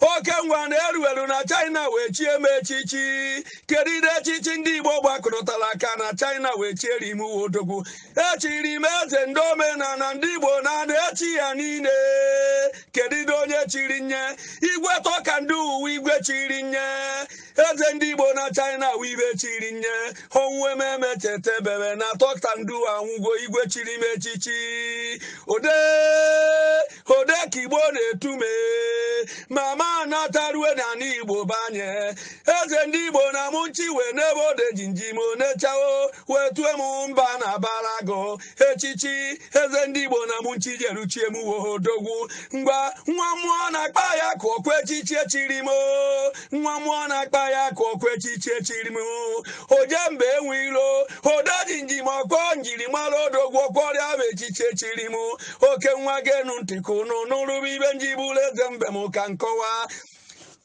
oke nwa na-eru eru na China wee chie m echichi kedu ụdị echichi ndị Igbo gbakọtara aka na China wee chieri m uwe odogwu echiri m eze ndị omenala ndị Igbo na na Asia niile kedu ụdị onye chiri m ya igwe Talk and Do wụ igwe chiri m ya eze ndị igbo na china wụ ibe chiri m ya ọnwụ eme m echeta ebebe na Talk and Do anwụgo igwe chiri m echichi ode ode ka igbo na-etu me mama natarue na ala igbo be anyị eze ndị igbo na Mushin wee nebe ode jimjim o nechaa o wee tue m mba na-abara agụ echichi eze ndị igbo na Mushin jeru chie m wụ odogwu ngwa nwa mmụọ na-akpa ya ka ọkwa echichi echiri m nwa mmụọ na-akpa ya ka ọkwa echichi echiri m oje mba enwe ilo ode jimjim ọkwa njirimara odogwu ọkwa ya bụ echichi echiri m oke nwa genu ntị ka unu nụlụ ibe m ji bụrụ eze mbem ka m kọwaa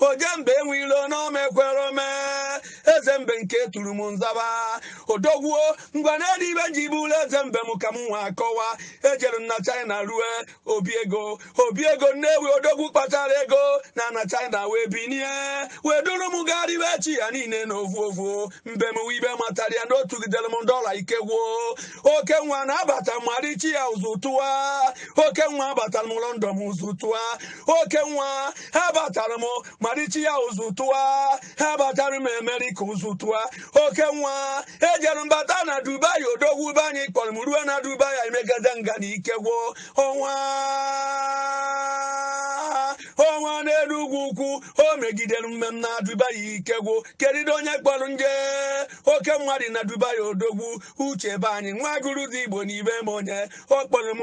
oje mba enwe ilo n'ome ekwere ome eze mbem ka e turu m n'Asaba odogwu o ngwa na elu ibe m ji bụrụ eze mbem ka m na-akọwa ejere m na china rue obi ego obi ego nnewi odogwu kpatara ego na na china wee binie wee duru m garube Asia niile na ovu ovu mbem wụ ibe matara ya na o tụgidere m dollar ike gwụ o oke nwa na abata m Malaysia ụzụ tụwa oke nwa abatara m London ụzụ tụwa oke nwa abatara m Malaysia ụzụ tụwa abatara m America ụzụ tụwa oke nwa ejere m bata na dubai odogwu be anyị kpọrọ m ruo na dubai emegide nganga ike gwụ ọnwa ọnwa n'Enugwu ukwu o megidere mmemme na dubai ike gwụ kedụ onye kpọrọ m je oke nwa dị na dubai odogwu uche be anyị nwa Aguluzigbo n'ibe m onye ọ kpọrọ m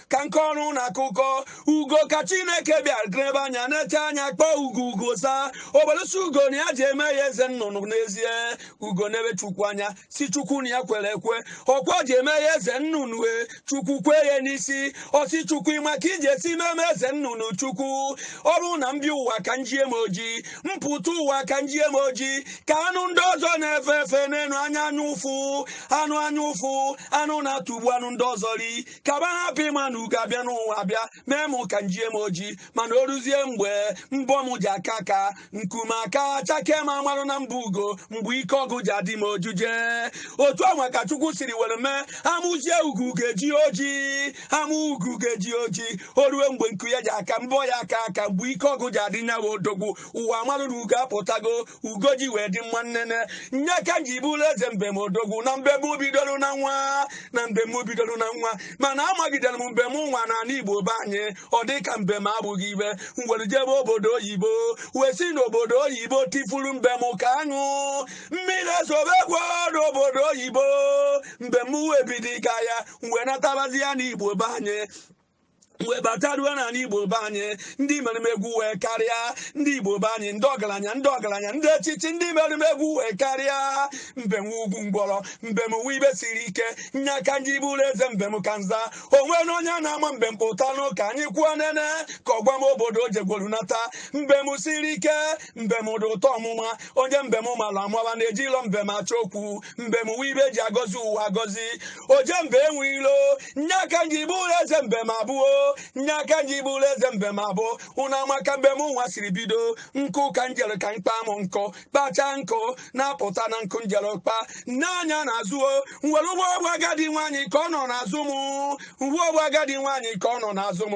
ka m kọọrọ unu akụkọ ugo ka chineke bịara nebe anya nechaa anya kpọọ ugo ugo zaa o bịalụ sị ugo na ya ji eme ya eze nnụnụ n'ezie ugo nebe chukwu anya sị chukwu na ya kwere ekwe ọkwa ji eme ya eze nnụnụ e chukwu kwe ya n'isi ọ sị chukwu ị ma ka i ji esi mee m eze nnụnụ chukwu ọ bụrụ na m bịa ụwa ka m jie m oji m pụta ụwa ka m jie m oji ka anụ ndị ọzọ na-efe efe n'elu anya anya ụfụ anụ anya ụfụ anụ na-atụgbu anụ ndị ọzọ ri ka ba hapụ ịma na ugo abịa n'ụwa bịa mee m ka m jie m oji mana o ruzie mgbe mbọ m ji aka aka nku m aka chakee m a marụ na m bụ ugo mgbe ike ọgụ ji adị m ojuje otu anwa ka chukwu siri were mee a mụzie ugo ga-eji oji a mụ ugo ga-eji oji o ruo mgbe nku ya ji aka mbọ ya aka aka mgbe ike ọgụ ji adị ya nwa odogwu ụwa amarụ na ugo apụtago ugo ji wee dị mma nnene nya ka nji bụlụ eze mbem odogwu na mbem bidoro na nwa na mbem bidoro na nwa mana amagidere m mbem nwa na ala igbo be anyị ọ dị ka mbem abụghị ibe m were jebe obodo oyibo wee si n'obodo oyibo tifuru mbem ka aṅụ mmiri ezobekwa n'obodo oyibo mbem wee bido ịga ya wee natabazịa n'igbo be anyị wee bata ruo n'ala igbo be anyị ndị mere m egwu wee karịa ndị igbo be anyị ndị ọgaranya ndị echichi ndị mere m egwu wee karịa mbem ugwu ngwọrọ mbem wụ ibe siri ike nya ka nji bụrụ eze mbem ka nza o nwere onye na-ama mbem pụtanụ ka anyị kwuo nene ka ọ gwa m obodo o jegwolu nata mbem siri ike mbem dị ụtọ ọmụma onye mbem mara amara na ejilọ mbem achọ okwu mbem wụ ibe eji agọzi ụwa agọzi oje mba enwe ilo nya ka nji bụlụ eze mbem abụọ nya ka nji bụlụ eze mbem abụọ ụnụ ama ka mbem nwa siri bido nkụ ka njere ka mkpa mụ nkụ kpachaa nkụ na-apụta na nkụ njere kpa nene anya n'azụ o nwere ụgbọ ọgbọ agadi nwaanyị ka ọ nọ n'azụ m uwe ọgbọ agadi nwaanyị ka ọ nọ n'azụ m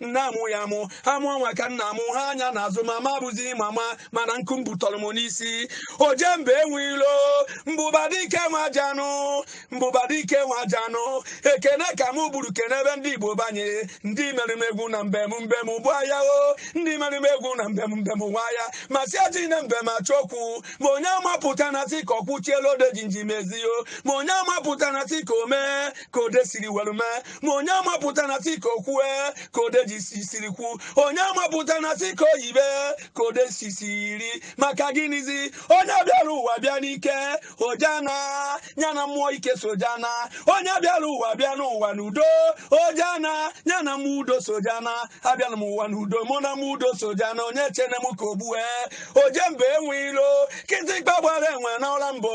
nna amụ ya amụ ha mụọ nwa ka nna mụ ha anya n'azụ mama bụzi mama mana nkụ m butọrọ m n'isi oje mba enwe ilo mbụba dike nwa janụ mbụba dike nwa janụ ekene ka mụ buru kenebe ndị igbo be anyị ndị mere m egwu na mbem mbem bụ ahịa o ndị mere m egwu na mbem mbem nwa ya ma si ejina mbem achọ okwu ma onye amapụtana si ka o kwuchielu odejinji mezie ma onye amapụtana si ka o mee ka ode siri were mee ma onye amapụtana si ka o kwue ka odeji si siri kwu onye amapụtana si ka o yibe ka ode si siri maka gịnịzi onye bịara ụwa bịa n'ike ọ ja-ana ya na mmụọ ike so ja-ana onye bịara ụwa bịa n'ụwa n'udo ọ ja-ana ya na mmụọ udo so ja-ana abịara m ụwa n'udo mụ na mmụọ udo so ja-ana onye chene m ka o gbue oje mba enwe ilo kịtịkpa gbara enwe n'ọla mbụ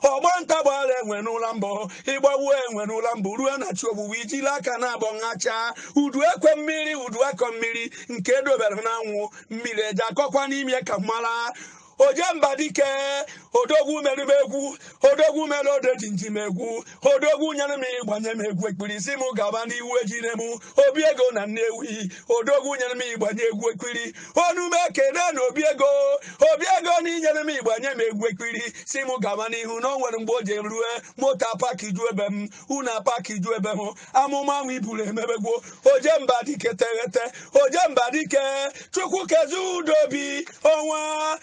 ọgba nta gbara enwe n'ụla mbọ ịgbawu enwe n'ụla mbọ ruo na chi ogbugbu ijila aka na abọ nhacha udu akọ mmiri udu akọ mmiri nke edobere n'anwụ mmiri eji akọkwa n'ime ka mmara oje mba dike odogwu mere m egwu odogwu mere odejinji m egwu odogwu nyere m igba nye m egwu ekpiri si m gaba n'ihu ejire m obiego na nnewi odogwu nyere m igba nye egwu ekpiri ọnụ m ekene na obiego obiego na inyere m igba nye m egwu ekpiri si m gaba n'ihu na o nwere mgbe o ji rue moto apakijue be m unu apakijue be m amụma ahụ i buru emebegwo oje mba dike teghete oje mba dike chukwu kezi udobi ọnwa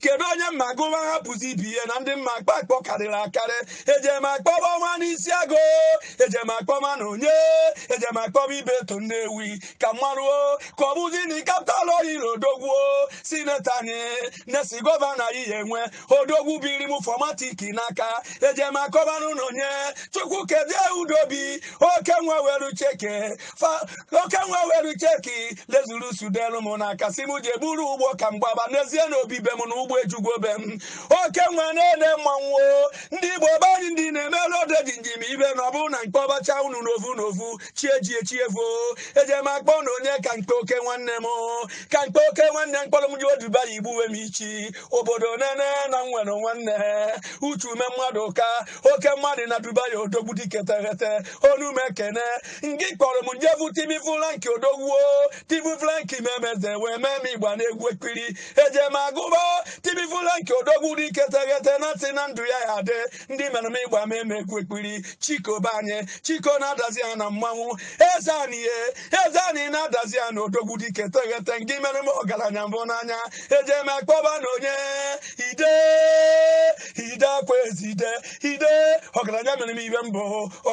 kedu onye m ma-agụwa hapụzi ibe ya na ndị m ma-akpọ akpọ karịrị akarị ejem akpọba ọnwa n'isi agụ ejem akpọba na onye ejem akpọba Ibeto Nnewi ka m maruo ka ọ bụzi na Capital Oil odogwuo sinetọ anyị next gọvanọ anyị ya-enwe odogwu biri m Formatic n'aka ejem akpọbanụ na onye Chukwukezie Udobi oke nwa were chị key oke nwa were chị key Lexus delu m n'aka sị m je buru ụgbọ ka m gbaba n'ezie n'obi be m na ụgbọ ejugwo be m oke nwa na-ede mmanwụ ndị igbo be anyị ndị na-emere Odejimjim ive na ọ bụrụ na m kpọbacha unu n'ovu n'ovu chi ejie chi evo eje m akpọ na onye ka m kpe oke nwanne m ka m kpe oke nwanne m kpọrọ m jee Dubai igbuwe m ichi obodo nine na m nwere nwanne uche ume mmadụ ka oke mmadụ na dubai odogwu dike teghete ọnụ m ekene ngị kpọrọ m je vụ Timi Frank odogwuo Timi Frank memeze wee mee m ịgba n'egwu ekpiri eje m agụba Timi Frank odogwu dike teghete na m tị na ndụ ya ya-adị ndị mere m ịgba m eme egwu ekpiri chiko be anyị chiko n'Adazi Ana mmanwụ eze anyị ye eze anyị n'Adazi Ana odogwu dike teghete ngị mere m ọgaranya m vụ n'anya eje m akpọba na onye ide ide Akwaeze ide ide ọgaranya mere m ihe m bụ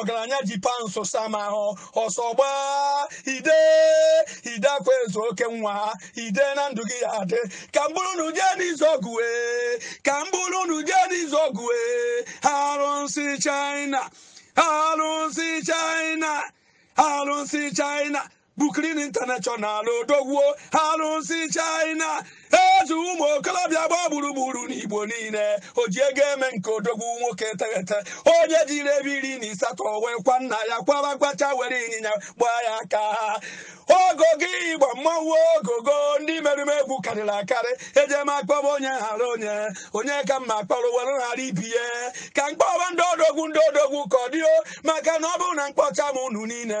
ọgaranya ji pounds sa m ahụ ọsọ gbaa ide ide Akwaeze oke nwa ide na ndụ gị ya-adị ka m buru unu jee n'Izuogu wee ka m buru unu jee n'Izuogu wee arụsị china arụsị china arụsị china Brooklyn International odogwuo arụsị China eze ụmụ okorobịa gba gburugburu n'Igbo niile o ji ego eme nke odogwu nwoke teghete onye jiri evi iri na ịsatọ wee kwa nna ya kwaba kwacha were ịnyịnya gbaa ya aka ogogo ịgba mmanwụ ogogo ndị merụ m egwu karịrị akarị ejem akpọba onye ghara onye onye ka m ma-akpọrọ were ghara ibe ya ka m kpọba ndị odogwu ndị odogwu ka ọ dịo maka na ọ bụrụ na m kpọcha unu niile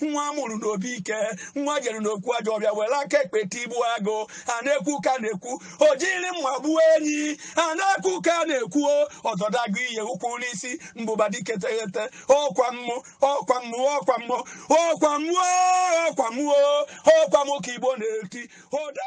nwa a mụrụ n'obi ike nwa jere n'okwu ajọ ọbịa were aka ekpe tigbu agụ a na-ekwu ka na-ekwu o jiri mma gbuo enyi a na-ekwu ka na-ekwu ọzọdagụ ihe ukwu n'isi mbụba dike teghete ọkwa mụ ọkwa mụ ọkwa mụ ọkwa mụ o ọkwa mụ o ọkwa mụ ka Igbo na-eti ụda